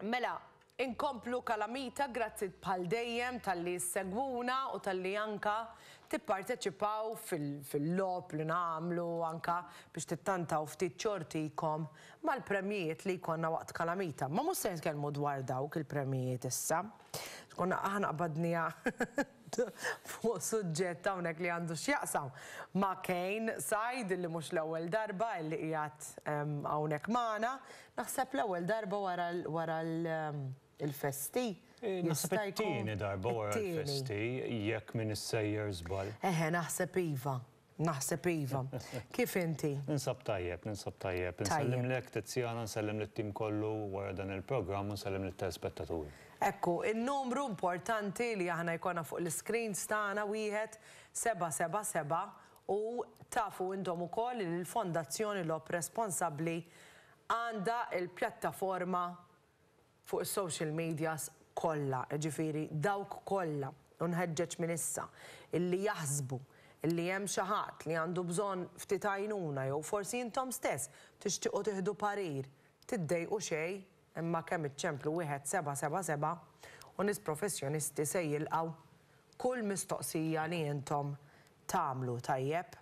Mela, inkomplu kalamita grazzi bħal dejjem tal-li segwuna u tal-li anka tipparteċipaw fil-lob li namlu anka biex tittantaw ftit ċortikom mal-premjijiet li jkonna waqt kalamita. Ma mus se nitkellmu dwar dawk il-premjijiet issa. Konna aħna qbadnija fuq suġġett hawnhekk li għandu x'jaqsam ma' Kejn Sajd li mhux l-ewwel darba li qiegħed hawnhekk magħna. Naħseb l-ewwel darba wara l-festi. Naħseb it-tieni darba wara l-festi jekk m'inis sejjer żball. Eħe naħseb iva. Naħseb iva. Kif inti? Ninsab tajjeb, ninsab tajjeb. Insellimlek, Tiziana, nsellem lit-tim kollu wara dan il-programm u nsellem lit-telespettaturi. Ekku, in-numru importanti li aħna jkollna fuq l-iscreens tagħna wieħed, seba' seba' seba' u tafu intom ukoll li l-Fondazzjoni Lob Responsabbli għandha l-pjattaforma fuq is-social medias kollha, jiġifieri dawk kollha, u nħeġġeġ minn issa, illi jaħsbu illi hemm xi ħadd li għandu bżonn ftit għajnuna jew forsi intom stess tixtiequ tieħdu parir, tiddejqu xejn imma kemm iċċemplu wieħed seba' seba' seba' u nies professjonisti se jilqgħu kull mistoqsija li intom tagħmlu, tajjeb?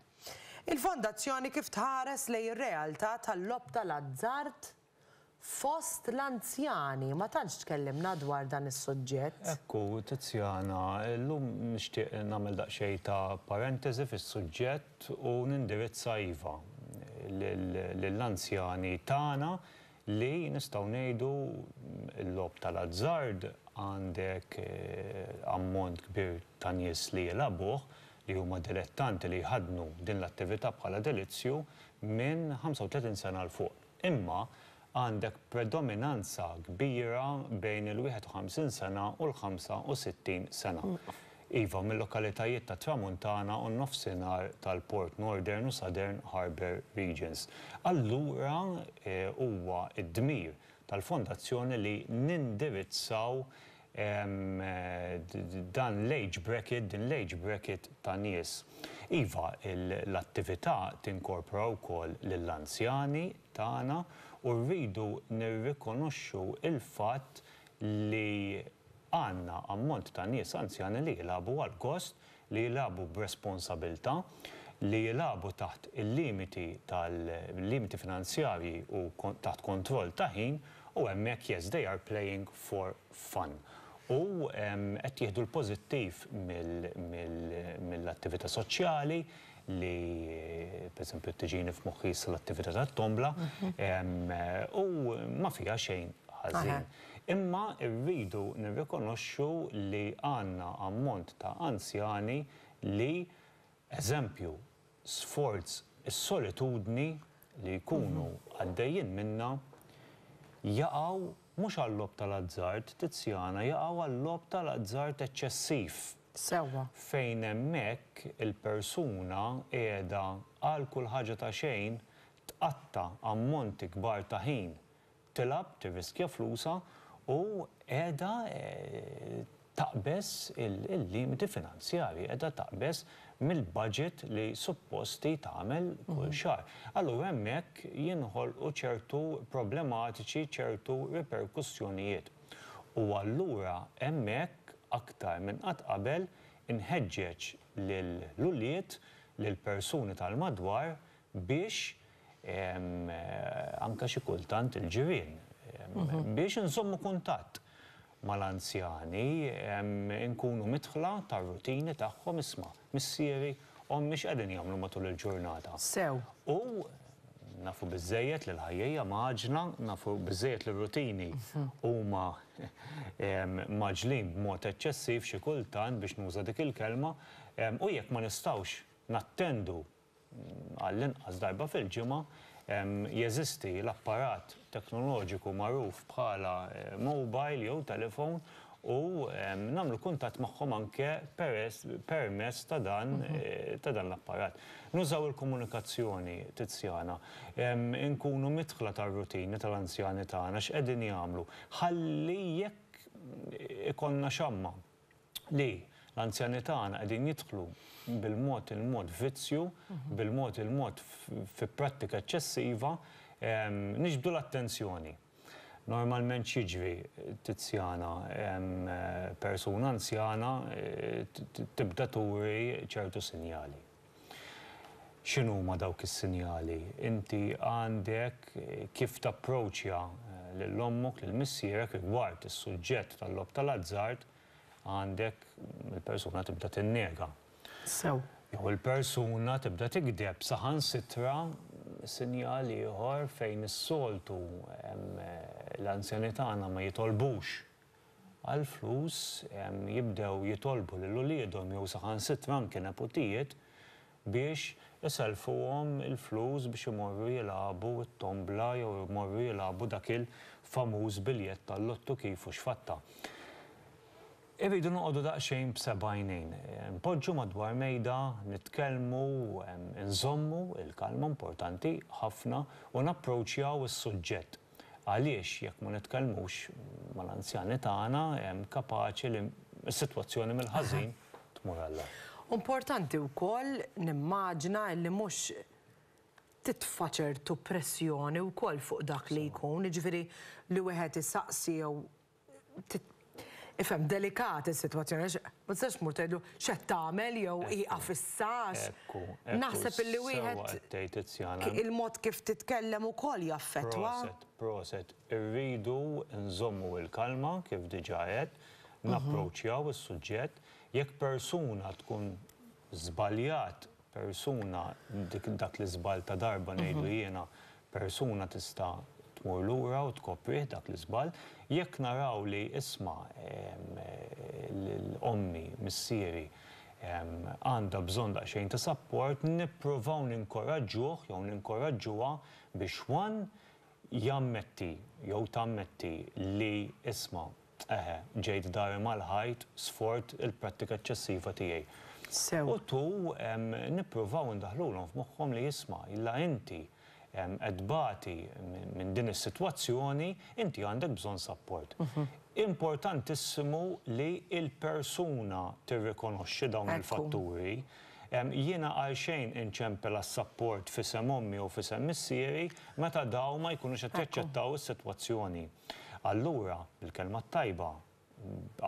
Il-Fondazzjoni kif tħares lejn ir-realtà tal-logħob tal-azzard? Fost l-anzjani ma tantx tkellimna dwar dan is-suġġett. Hekk hu, Tiziana. Illum nixtieq nagħmel daqsxejn ta' parentesi fis-suġġett u nindirizza, iva, lill-anzjani tagħna li, nistgħu ngħidu, il-logħob tal-azzard għandek ammont kbir ta' nies li jilgħabuh, li huma dilettanti li jħaddnu din l-attività bħala delizzju minn 35 sena 'l fuq. Imma għandek predominanza kbira bejn il-51 sena u l-65 sena. Iva, mil-lokalitajiet tat-Tramuntana u n-Nofsinhar tal-Port, Northern u Southern Harbour Regions. Allura huwa d-dmir tal-Fondazzjoni li nindirizzaw dan l-age bracket, din l-age bracket ta' nies. Iva, l-attività tinkorpora wkoll lill-anzjani tagħna u rridu nirrikonoxxu l-fatt li għandna ammont ta' nies anzjani li jilagħbu għall-gost li jilagħbu b'responsabilità, li jilagħbu taħt il-limiti tal-limiti finanzjarji u taħt kontroll ta' ħin u hemmhekk yes they are playing for fun u qed jieħdu l-pożittiv mill-attività soċjali li pereżempju tiġini f'moħħi issa l-attività tat-tombla u ma fiha xejn ħażin. Imma rridu nirrikonoxxu li għandna ammont ta' anzjani li, eżempju, sforz is-solitudni li jkunu għaddejjin minnha, jaqgħu mhux għal-logħob tal-azzard, Tiziana, jaqgħu għal-logħob tal-azzard eċċessiv. Sewwa. Fejn hemmhekk il-persuna qiegħda għal kull ħaġa ta' xejn tqatta' ammonti kbar ta' ħin tilgħab, tirriskja flusha u qiegħda taqbeż il-limiti finanzjarji, qiegħda taqbeż mill-budget li suppost hi tagħmel kull xahar. Allura hemmhekk jinħolqu ċertu problematiċi, ċertu riperkussjonijiet. U allura hemmhekk aktar minn qatt qabel inħeġġeġ lill-ulied, lill-persuni tal-madwar biex anke xi kultant il-ġirien, biex inżommu kuntatt mal-anzjani, inkunu midħla tar-rutini tagħhom, isma', missieri, ommi x'qegħdin jagħmlu matul il-ġurnata? Sew. U nafu biżżejjed li l-ħajja hija mgħaġġla, nafu biżżejjed li r-rutini huma mgħaġġlin b'mod eċċessiv xi kultant biex nuża dik il-kelma, u jekk ma nistgħux nattendu għall-inqas darba fil-ġimgħa, jeżisti l-apparat teknoloġiku magħruf bħala mobile jew telefon u nagħmlu kuntatt magħhom anke permezz ta' dan ta' dan l-apparat. Nużaw il-komunikazzjoni Tiziana. Inkunu midħla tar-rutini tal-anzjani tagħna x'qegħdin jagħmlu. Ħalli jekk ikollna xamma. li l-anzjani tagħna qegħdin jidħlu bil-mod il-mod f'vizzju, bil-mod il-mod fi prattika eċċessiva, niġbdu l-attenzjoni. Normalment x'jiġri, Tiziana, persuna anzjana tibda turi ċertu sinjali. X'inhuma dawk is-sinjali? Inti għandek kif tapproċċja lil ommok, lil missierek rigward is-suġġett tal-logħob tal-azzard, għandek il-persuna tibda tinnega. Sew. Jew il-persuna tibda tigdeb. Saħansitra sinjal ieħor fejn is-soltu l-anzjani tagħna ma jitolbux. għall-flus, jibdew jitolbu lil uliedhom jew saħansitra anke neputijiet biex isellfuhom il-flus biex imorru jilagħbu t-tombla jew imorru jilagħbu dak il-famuż biljett tal-lottu kif u x'fatta. Irridu noqogħdu daqsxejn b'seba' għajnejn. Npoġġu madwar mejda, nitkellmu, inżommu l-kalma, importanti ħafna, u napproċċjaw is-suġġett. Għaliex jekk ma nitkellmux mal-anzjani tagħna, hemm kapaċi li s-sitwazzjoni mill-ħażin tmur għall-agħar. Importanti wkoll nimmaġina illi mhux titfa' ċertu pressjoni wkoll fuq dak li jkun, jiġifieri li wieħed isaqsi jew Ifhem, delikat is-sitwazzjoni għax ma tistax tmur tgħidlu x'qed tagħmel jew ieqaf issa għax naħseb illi wieħed il-mod kif titkellem ukoll jaffettwa. Proset, proset. Irridu nżommu l-kalma kif diġà għedt, napproċċjaw is-suġġett. Jekk persuna tkun żbaljat persuna, dik, dak l-iżball ta' darba ngħidlu jiena, persuna tista' tmur lura u tkoprih dak l-iżball. Jekk naraw li isma' l-ommi, missieri, għandha bżonn daqsxejn ta' sapport, nipprovaw ninkoraġġuh jew ninkoraġġuha biex one, Jammetti jew tammetti li, isma', eħe, ġejt dari mal-ħajt sfort il-prattika eċċessiva tiegħi. Sew. U tu, nippruvaw indaħħlulhom f'moħħhom li, isma', la inti qed tbati minn din is-sitwazzjoni, inti għandek bżonn sapport. Importantissimu li l-persuna tirrikonoxxi dawn il-fatturi. Jiena għalxejn inċempel għas-sapport f'isem ommi u f'isem missieri meta dawn ma jkunux qed jaċċettaw is-sitwazzjoni. Allura, bil-kelma t-tajba,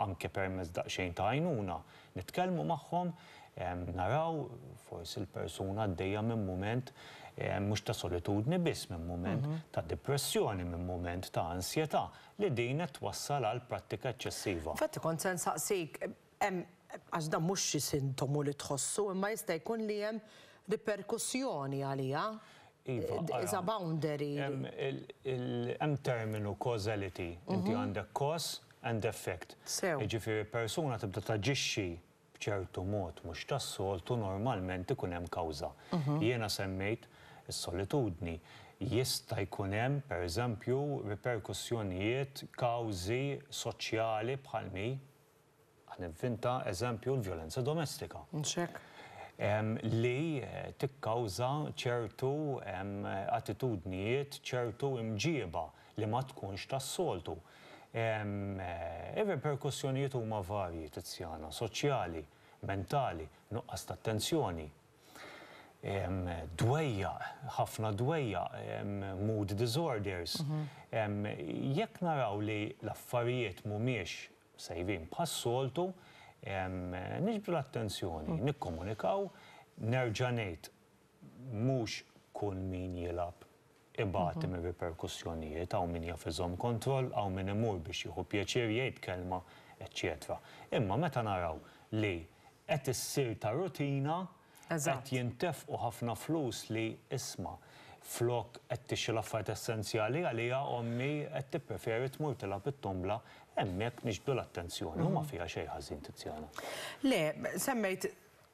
anke permezz daqsxejn ta' għajnuna, nitkellmu magħhom, naraw, forsi l-persuna għaddejja minn mument mhux ta' solitudni biss, minn mument ta' dipressjoni, minn mument ta' ansjetà li din qed twassal għal prattika eċċessiva. Infatti kont se nsaqsik, Hemm, għax dan mhux xi sintomu li tħossu, imma jista' jkun li hemm riperkussjoni għaliha. Iva, ara. Is a boundary. Hemm il, il, hemm terminu causality. Inti għandek cause and effect. Sew. Jiġifieri persuna tibda taġixxi b'ċertu mod mhux tas-soltu normalment ikun hemm kawża. Jiena semmejt is-solitudni. Jista' jkun hemm, per eżempju, riperkussjonijiet, kawżi soċjali bħal mi. Ħa nivvin ta' eżempju l-vjolenza domestika. Nxekk. Li tikkawża ċertu attitudnijiet, ċertu imġieba li ma tkunx tas-soltu. Ir-riperkussjonijiet huma varji, Tiziana, soċjali, mentali, nuqqas ta' attenzjoni, dwejjaq, ħafna dwejjaq, mood disorders. Jekk naraw li l-affarijiet mhumiex Sejbin, bħas-soltu, niġbdu l-attenzjoni, nikkomunikaw, nerġa' ngħid, mhux kull min jilgħab ibati mir-riperkussjonijiet, hawn min jaf iżomm kontroll, hawn min imur biex jieħu pjaċir, jgħid kelma, eċċetera. Imma meta naraw li qed issir ta' rutina, Qed jintefqu ħafna flus li, isma', flok qed tixtri l-affarijiet essenzjali għaliha, ommi qed tippreferi tmur tilgħab it-tombla, hemmhekk nixbdu l-attenzjoni u ma fiha xejn ħażin, Tiziana. Le, semmejt,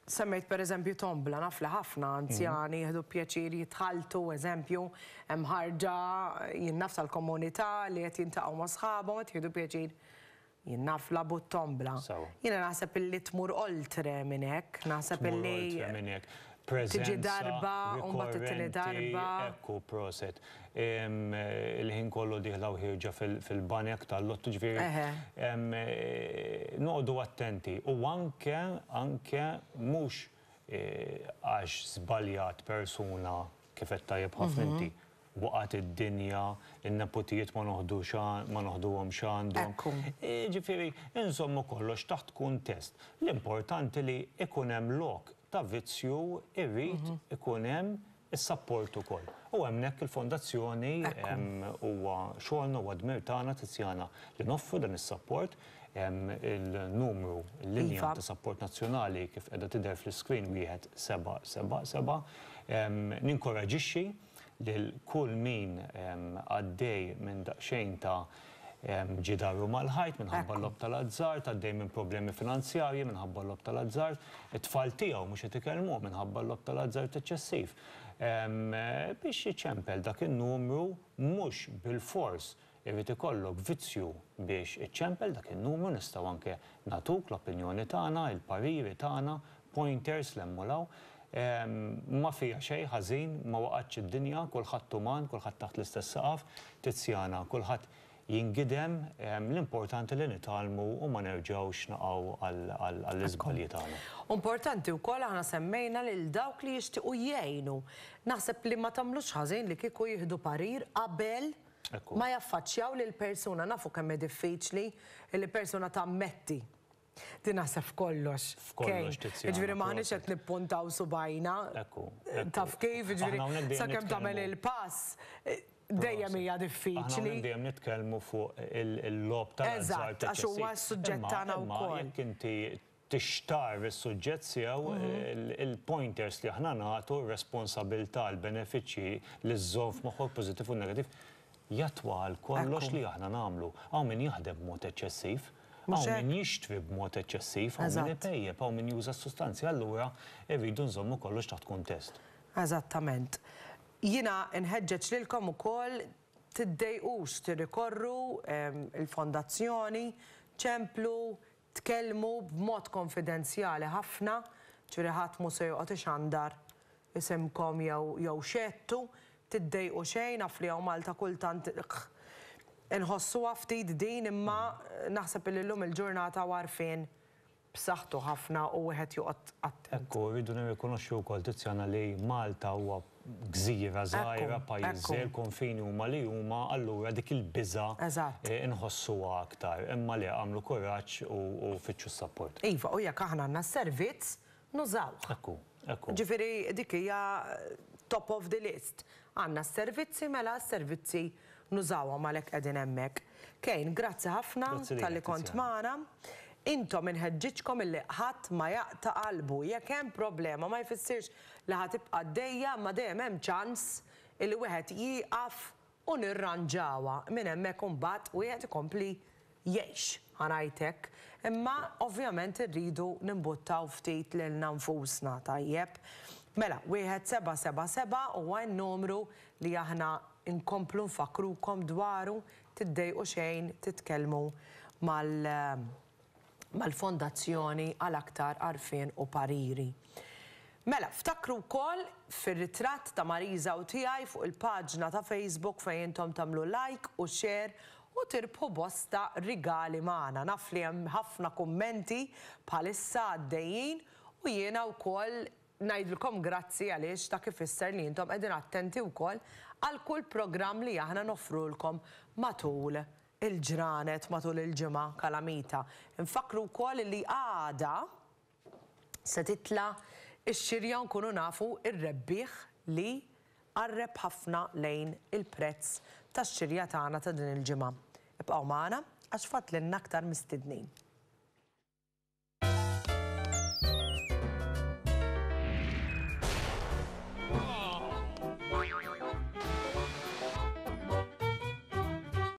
semmejt per eżempju tombla, naf li ħafna anzjani jieħdu pjaċir jitħalltu, eżempju, hemm ħarġa, jien naf tal-komunità li qed jiltaqgħu ma' sħabhom, qed jieħdu pjaċir. Jien naf labu t-tombla. Sewa. Jiena naħseb illi tmur oltre minn hekk, naħseb Tmur illi oltre minn hekk. Preżenza rikorrenti. Tiġi darba u mbagħad it-tieni darba. Ekku, proset. Il-ħin kollu dieħla u ħierġa fil-banek tal-lotto, ġifieri noqogħdu attenti u anke, anke mhux għax żbaljat persuna kif qed tajjeb ħafna inti, Waqgħet id-dinja, in-neputijiet ma noħdux ma noħduhomx għandhom. Hekk hu. Jiġifieri inżommu kollox taħt kuntest. L-importanti li jkun hemm lok ta' vizzju jrid ikun hemm is-sapport ukoll. U hemmhekk il-Fondazzjoni huwa xogħolna huwa dmir tagħna Tiziana li noffru dan is-sapport. Il-numru, il-linja ta' sapport nazzjonali kif qiegħda tidher fl-iscreen 1777. Ninkoraġixxi. lil kull min għaddej minn daqsxejn ta' ġidaru mal-ħajt minħabba l-logħob tal-azzard, għaddej minn problemi finanzjarji minħabba l-logħob tal-azzard, it-tfal tiegħu mhux qed ikellmuh minħabba l-logħob tal-azzard eċċessiv. Biex iċempel dak in-numru mhux bilfors Irid ikollok vizzju biex iċċempel dak in-numru, nistgħu anke nagħtuk l-opinjoni tagħna, il-pariri tagħna, pointers l-hemm u l-hawn. Ma fiha xejn ħażin, ma waqgħetx id-dinja, kulħadd uman, kulħadd taħt l-istess saqaf, Tiziana, kulħadd jingidem, l-importanti li nitgħallmu u ma nerġgħux naqgħu għall-iżbalji tagħna. Importanti wkoll aħna semmejna lil dawk li jixtiequ jgħinu. Naħseb li ma tagħmlux ħażin li kieku jieħdu parir qabel ma jaffaċċjaw lill-persuna. Nafu kemm hi diffiċli li persuna tammetti li naħseb f'kollox. F'kollox Tiziana. Jiġifieri m'aħniex qed nippuntaw subgħajna. Ekku. Taf kif, jiġifieri sakemm tagħmel il-pass dejjem hija diffiċli. Aħna dejjem nitkellmu fuq il-logħob tal-azzard. Eżatt, għax huwa s-suġġett tagħna wkoll. Imma jekk inti tixtarr is-suġġett sew, il-pointers li aħna nagħtu, r-responsabilità, l-benefiċċji li żżomm f'moħħok pożittiv u negattiv, jattwa għal kollox li aħna nagħmlu. Hawn min jaħdem b'mod eċċessiv, hawn min jixtri b'mod eċċessiv, hawn min ipejjep, hawn min juża s-sustanzi, allura rridu nżommu kollox taħt kuntest. Eżattament. Jiena nħeġġeġ lilkom ukoll tiddejqux tirrikorru, il-Fondazzjoni, ċemplu, Tkellmu b'mod konfidenzjali ħafna, ġifieri ħadd mhu se joqgħod ixandar isimkom jew jew xehedtu, tiddejqu xejn, naf li hawn Malta kultant inħossuha ftit din imma naħseb li llum il-ġurnata hu għarfien b'saħħtu ħafna u wieħed joqgħod attent. Hekk hu, rridu nirrikonoxxu wkoll Tiziana li Malta huwa gżira żgħira, pajjiż żgħir, konfini huma li huma, allura dik il-biża' nħossuha aktar. Imma le, agħmlu kuraġġ u fittxu s-sapport. Iva, u jekk aħna għandna s-servizz, nużawh. Hekk hu, hekk hu. Jiġifieri dik hija top of the list. Għandna s-servizzi, mela s-servizzi nużawhom għalhekk qegħdin hemmhekk. Kane, grazzi ħafna talli kont magħna. Intom inħeġġiġkom illi ħadd ma jaqta' qalbu. Jekk hemm problema ma jfissirx li ħa tibqa' għaddejja imma dejjem hemm ċans illi wieħed jieqaf u nirranġawha minn hemmhekk u mbagħad wieħed ikompli jgħix, ħa ngħid hekk. Imma ovvjament irridu nimbuttaw ftit lilna nfusna, tajjeb? Mela, wieħed seba' seba' seba' huwa n-numru li aħna nkomplu nfakkrukom dwaru, tiddejqu xejn titkellmu mal mal-Fondazzjoni għal aktar għarfien u pariri. Mela, ftakru wkoll fir-ritratt ta' Marisa u tiegħi fuq il-paġna ta' Facebook fejn intom tagħmlu like u share u tirbħu bosta rigali magħna. Naf li hemm ħafna kummenti bħalissa għaddejjin u jiena wkoll ngħidilkom grazzi għaliex dak ifisser li intom qegħdin attenti wkoll għal kull programm li aħna noffrulkom matul il-ġranet matul il-ġimgħa kalamita. Infakkru wkoll li għada se titla' x-xirja u nkunu nafu r-rebbieħ li qarreb ħafna lejn il-prezz tax-xirja tagħna ta' din il-ġimgħa. Ibqgħu magħna għax fadlilna aktar mistednin.